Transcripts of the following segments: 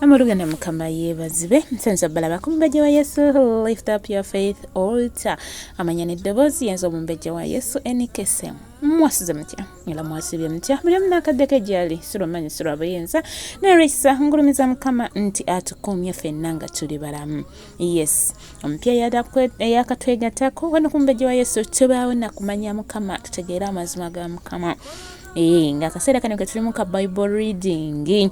amulugana mukama yebazibe nsenza balaba ku mumbejja wa yesu lift up your faith altar amanya n'eddoboozi yenza omumbejja wa yesu enikese mwasize mutya era mwasibye mutya buli omu n'akaddeko egyali si lwamanyi si lwa buyinza naye lwekisa ngulumiza mukama nti atukuumye fenna nga tuli balamu yes omupya eyakatwegatako wano kumbejja wa yesu tubaawo nakumanya mukama tutegeere amazima ga mukama eh, nga akaseera kano ketulimu ka bible reading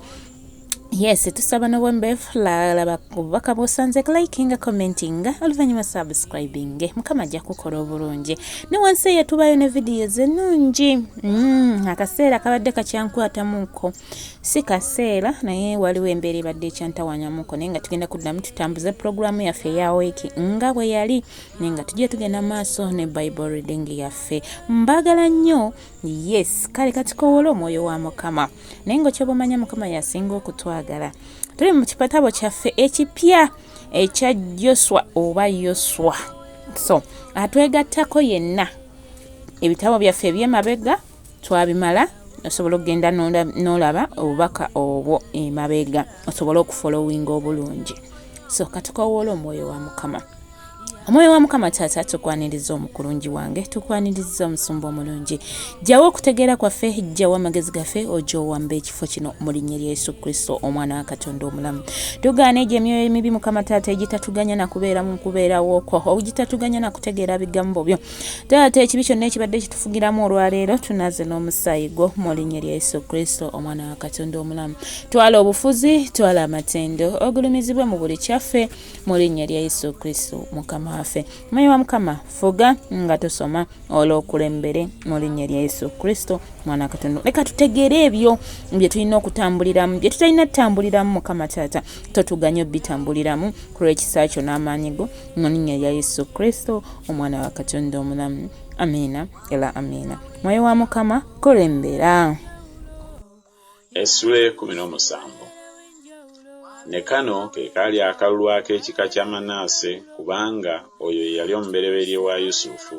yes tusaba nobwembefu lalaba obubaka bwosanze likinga commentinga oluvanyuma subscribing mukama ajja kukola obulungi ne wansi eyo tubayo ne vidiyo zenungi mm, akaseera kabadde kakyankwatamuko si kaseera naye waliwo embeera ebadde ekyantawanyamuko naye nga tugenda kuddamu tutambuze pulogulaamu yaffe eya wiiki nga bwe yali naye nga tujja tugenda maaso ne bible reading yaffe mbagala nnyo yes kale katikowola omwoyo wa mukama naye nga okyoba omanya mukama yasinga okutwagala tuli mu kipatabo kyaffe ekipya ekya joswa oba yoswa so atwegattako yenna ebitabo byaffe ebyemabega twabimala osobola okugenda n'olaba obubaka obwo emabega osobole okufolowinga obulungi so katukowoola omwoyo wa mukama omwoyo wa mukama taata tukwaniriza omukulungi wange tukwaniriza omusumba omulungi jjawo okutegeera kwaffe jjawo amagezi gaffe oja owamba ekifo kino mu linnya lya yesu kristo omwana wa katonda omulamu tugaana egyo emyoyo emibi mukama taata egitatuganya nakubeera mu kubeerawokwo ogitatuganya nakutegeera bigambo byo taata ekibi kyonna ekibadde kitufugiramu olwaleero tunaze n'omusaayi gwo mu linnya lya yesu kristo omwana wa katonda omulamu twala obufuzi twala amatendo ogulumizibwe mu buli kyaffe mu linnya lya yesu kristo mukama waffe mayi wa mukama fuga nga tusoma olw'okulembere mu linnya lya yesu kristo mwana katonda leka tutegeere ebyo bye tulina okutambuliramu bye tutalina tutambuliramu mukama taata totuganyo bitambuliramu ku lw'ekisa kyo n'amaanyi go mu linnya lya yesu kristo omwana wa katonda omulamu amiina era amiina mwoyo wa mukama kulembera essula ekumi n'omusanvu ne kano ke kaali akalulu ak'ekika kya manaase kubanga oyo ye yali omubereberye wa yusufu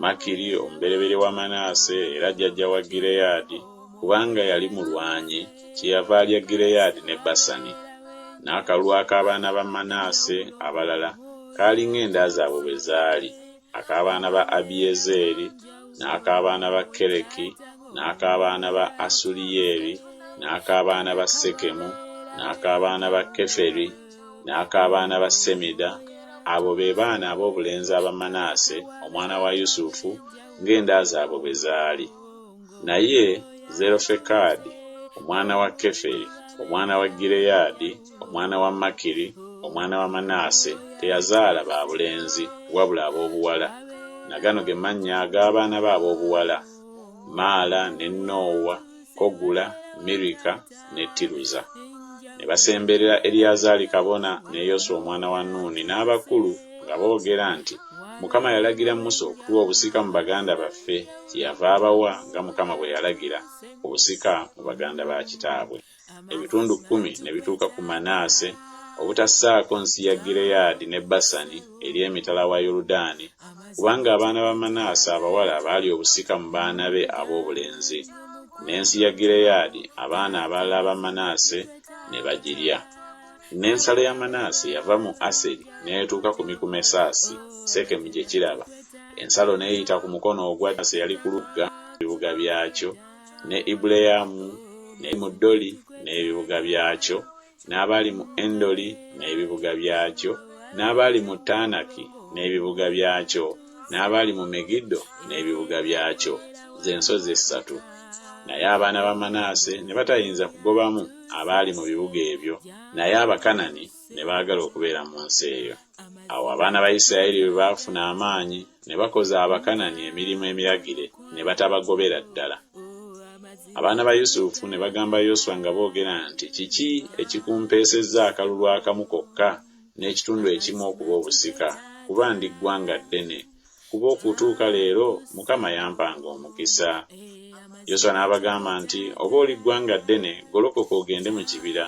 Makiri omubereberye wa Manaase era jjajja wa Gireyaadi, kubanga yali mulwanyi, kyeyava alya Gireyaadi ne Basani. N'akalulu ak'abaana ba Manaase abalala kaali ng'enda zaabwe bwe zaali, ak'abaana ba Abiyezeeri, n'ak'abaana ba Kereki, n'ak'abaana ba Asuliyeli, n'ak'abaana ba Sekemu, n'ak'abaana ba Keferi, n'ak'abaana ba Semida, abo be baana ab'obulenzi aba Manaase omwana wa Yusufu ng'enda zaabwe bwe zaali. Naye Zerofekadi omwana wa Keferi omwana wa Gireyaadi omwana wa Makiri omwana wa Manaase teyazaala ba bulenzi wabula ab'obuwala. Na gano ge mannya ag'abaana be ab'obuwala, Maala ne Noowa. Kogula, Mirika, ne Tiruza. Ne basemberera Eriyazaali kabona ne Yoswa omwana wa Nuuni n'abakulu, nga boogera nti, Mukama yalagira Musa okutuwa obusika mu baganda baffe, kyeyava abawa nga Mukama bwe yalagira, obusika mu baganda ba kitaabwe. Ebitundu kkumi ne bituuka ku Manaase, obutassaako nsi ya Gireyaadi ne Basani eri emitala wa Yoludaani, kubanga abaana ba Manaase abawala baali obusika mu baana be ab'obulenzi, n'ensi ya Gireyaadi abaana abalala aba Manaase ne bagirya. N'ensalo ya Manaase yava mu Aseri n'etuuka ku Mikumesaasi, Sekemu gye kiraba, ensalo n'eyita ku mukono ogwa ddyo eyali ku lugga, n'ebibuga byakyo, ne Ibuleyamu, ne Migdoli n'ebibuga byakyo, n'abaali mu Endoli n'ebibuga byakyo, n'abaali mu Taanaki n'ebibuga byakyo, n'abaali mu Megiddo n'ebibuga byakyo, ze nsozi essatu. Naye abaana ba Manaase ne batayinza kugobamu abaali mu bibuga ebyo, naye Abakanani ne baagala okubeera mu nsi eyo. Awo abaana ba Isirayiri bwe baafuna amaanyi, ne bakoza Abakanani emirimu emiragire, ne batabagobera ddala. Abaana ba Yusufu ne bagamba Yoswa nga boogera nti, Kiki ekikumpeesezza akalulu akamu kokka n'ekitundu ekimu okuba obusika, kuba ndi ggwanga ddene? kuba okutuuka leero Mukama yampanga omukisa. Yoswa n'abagamba nti, Oba oli ggwanga ddene, golokoka ogende mu kibira,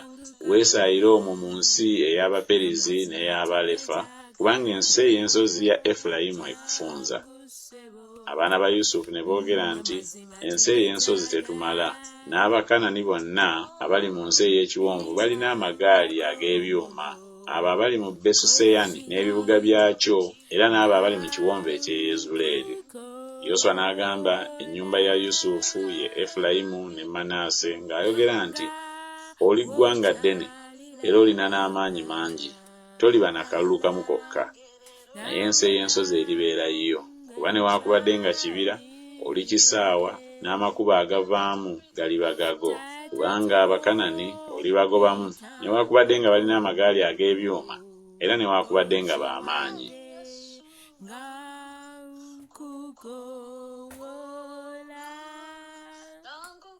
weesaayire omwo mu nsi ey'Abaperizi n'ey'Abalefa, kubanga ensi ey'ensozi ya Efulayimu ekufunza. Abaana ba Yusufu ne boogera nti, Ensi ey'ensozi tetumala. N'Abakanani bonna abali mu nsi ey'ekiwonvu balina amagaali ag'ebyuma. abo abali mu Besuseyani n'ebibuga byakyo, era n'abo abali mu kiwonvu eky'e Yezuleeri. Yoswa n'agamba ennyumba ya Yusufu, ye Efulayimu ne Manaase, ng'ayogera nti, Oli ggwanga ddene, era olina n'amaanyi mangi, toliba na kalulu kamu kokka. naye ensi ey'ensozi eribeera yiyo, kuba newaakubadde nga kibira, olikisaawa, n'amakubo agavaamu galiba gago. Kubanga Abakanani olibagobamu, newaakubadde nga balina amagaali ag'ebyuma, era newaakubadde nga ba maanyi.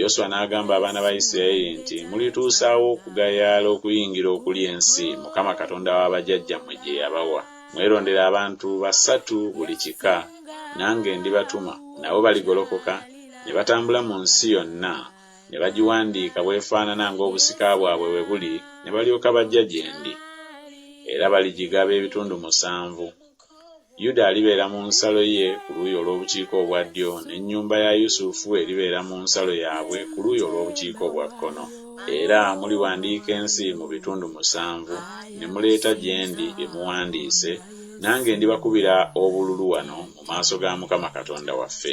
Yoswa n'agamba abaana ba Yisirayeli nti, Mulituusaawa okugayaala okuyingira okulya ensi Mukama Katonda wa bajajjammwe gye yabawa? Mwerondere abantu basatu buli kika, nange ndibatuma, nabo baligolokoka ne batambula mu nsi yonna, ne bagiwandiika bw'efaanana ng'obusika bwabwe bwe buli, ne balyoka bajja gye ndi. Era baligigaba ebitundu musanvu. Yuda alibeera mu nsalo ye ku luuyi olw'obukiika obwa ddyo, n'ennyumba ya Yusufu eribeera mu nsalo yaabwe ku luuyi olw'obukiika obwa kkono. Era muliwandiika ensi mu bitundu musanvu, ne muleeta gye ndi bye muwandiise, nange ndibakubira obululu wano mu maaso ga Mukama Katonda waffe.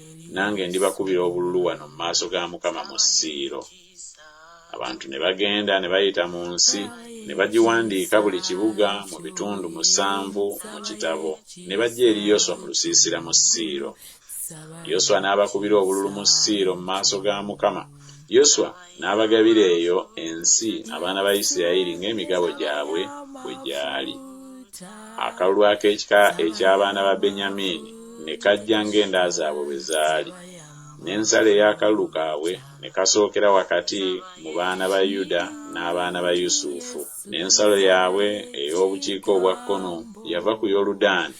nange ndibakubira obululu wano mu maaso ga Mukama mu Siiro. Abantu ne bagenda ne bayita mu nsi, ne bagiwandiika buli kibuga mu bitundu musanvu mu kitabo, ne bajja eri Yoswa mu lusiisira mu Siiro. Yoswa n'abakubira obululu mu Siiro mu maaso ga Mukama. Yoswa n'abagabira eyo ensi abaana ba Isirayiri ng'emigabo gyabwe bwe gyali. Akalulu ak'ekika eky'abaana ba Benyamiini ne kajja ng'enda zaabwe bwe zaali, n'ensalo ey'akalulu kaabwe ne kasookera wakati mu baana ba Yuda n'abaana ba Yusufu. N'ensalo yaabwe ey'obukiika obwa kkono yava ku Yoludaani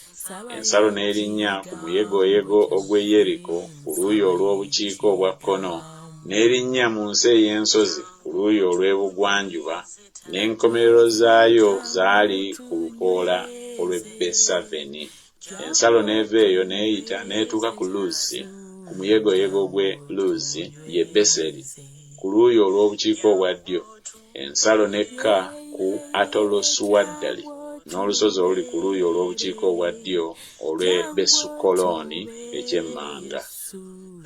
Ensalo n'erinnya ku muyegoyego ogw'e Yeriko ku luuyi olw'obukiika obwa kkono, n'erinnya mu nsi ey'ensozi ku luuyi olw'ebugwanjuba, n'enkomerero zaayo zaali ku lukoola olw'e Besaveni. Ensalo n'eva eyo n'eyita n'etuuka ku Luzi, ku muyegoyego gw'e Luzi, ye Beseri, ku luuyi olw'obukiika obwa ddyo. ensalo n'ekka ku Atolo Suwaddali n'olusozi oluli ku luuyi olw'obukiika obwa ddyo olw'e Besukolooni eky'emmanga.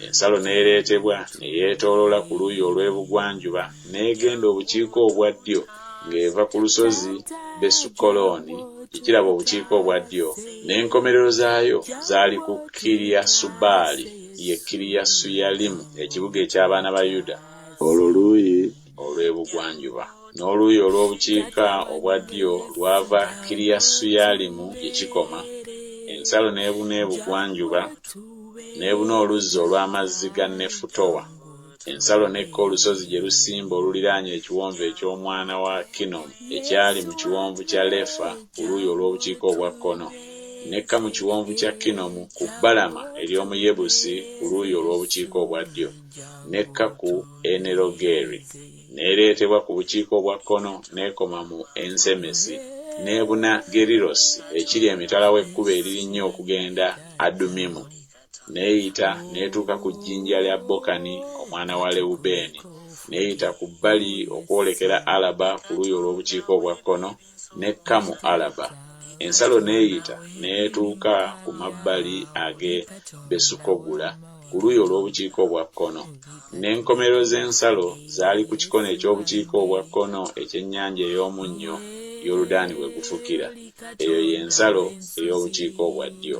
Ensalo n'ereetebwa ne yeetooloola ku luuyi olw'ebugwanjuba n'egenda obukiika obwa ddyo ng'eva ku lusozi Besukolooni gye kiraba obukiika obwa ddyo, n'enkomerero zaayo zaali ku Kiriyasubaali, ye Kiriyasuyalimu, ekibuga eky'abaana ba Yuda. Olwo luuyi olw'ebugwanjuba, n'oluuyi olw'obukiika obwa ddyo lwava Kiriyasuyaalimu gye kikoma, ensalo n'ebuna ebugwanjuba, n'ebuna oluzzi olw'amazzi ga Nefutoa, ensalo n'ekka olusozi gye lusimba oluliraanye Ekiwonvu eky'Omwana wa Kinomu, ekyali mu Kiwonvu kya Lefa ku luuyi olw'obukiika obwa kkono, n'ekka mu Kiwonvu kya Kinomu ku bbalama ery'omu Yebusi ku luuyi olw'obukiika obwa ddyo, n'ekka ku. Enerogeri, n'ereetebwa ku bukiika obwa kkono n'ekoma mu Ensemesi, n'ebuna Gerirosi ekiri emitala w'ekkubo eririnnya okugenda Adumimu, n'eyita n'etuuka ku jjinja lya Bokani omwana wa Lewubeeni, n'eyita ku bbali okwolekera Alaba ku luuyi olw'obukiika obwa kkono, n'ekka mu Alaba, ensalo n'eyita n'etuuka ku mabbali ag'e Besukogula ku luuyi olw'obukiika obwa kkono. N'enkomerero z'ensalo zaali ku kikono eky'obukiika obwa kkono eky'Ennyanja ey'Omunnyo, Yoludaani we gufukira. Eyo ye nsalo ey'obukiika obwa ddyo.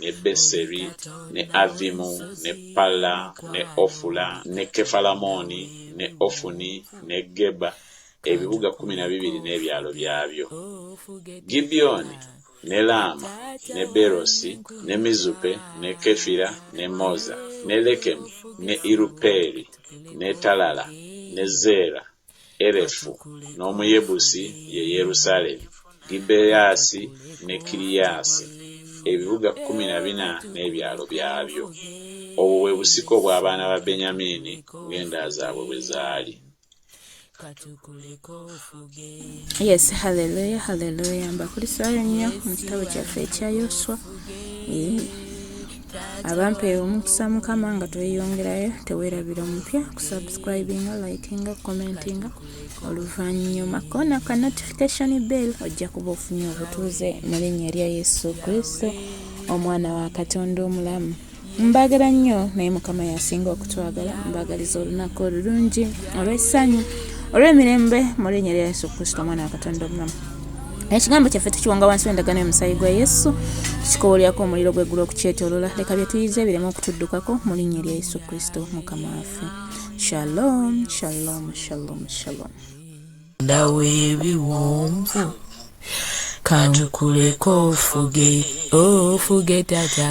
ne Beseri, ne Avvimu, ne Palla, ne Ofula, ne Kefalamooni, ne Ofuni, ne Geba, ebibuga kkumi na bibiri n'ebyalo byabyo. Gibyoni, ne Laama, ne Beerosi, ne Mizupe, ne Kefira, ne Moza, ne Lekemu, ne Irupeeli, ne Talala, ne Zeera, Erefu, n'Omuyebusi ye Yerusaalemi, Gibeasi ne Kiriasi, ebibuga kkumi na bina n'ebyalo byabyo. Obwo bwe busika obw'abaana ba Benyamiini ng'enda zaabwe bwe zaali. Yes, hallelujah, hallelujah. Mbakulisaayo nnyo mu kitabo kyaffe ekya Yoswa. Eh. abampa omukisa mukama nga tweyongerayo tewerabira omupya kusubscribinga likinga commentinga oluvannyuma kona ka notification bell ojja kuba ofunye obutuuze mu linnya lya yesu kristo omwana wa katonda omulamu mbagala nnyo naye mukama yasinga okutwagala mbagaliza olunaku olulungi olw'essanyu olw'emirembe mu linnya lya yesu kristo omwana wa katonda omulamu ekigambo kyaffe tukiwanga wansi w'endagaano y'omusaayi gwa yesu tukikowolerako omuliro gw'eggulu okukyetolola leka bye tuyize ebiremu okutuddukako mu linnya erya yesu kristo mukama waffe shalom shalom shalom shalom ndawo ebiwonvu kantukuleko ofuge ofuge tata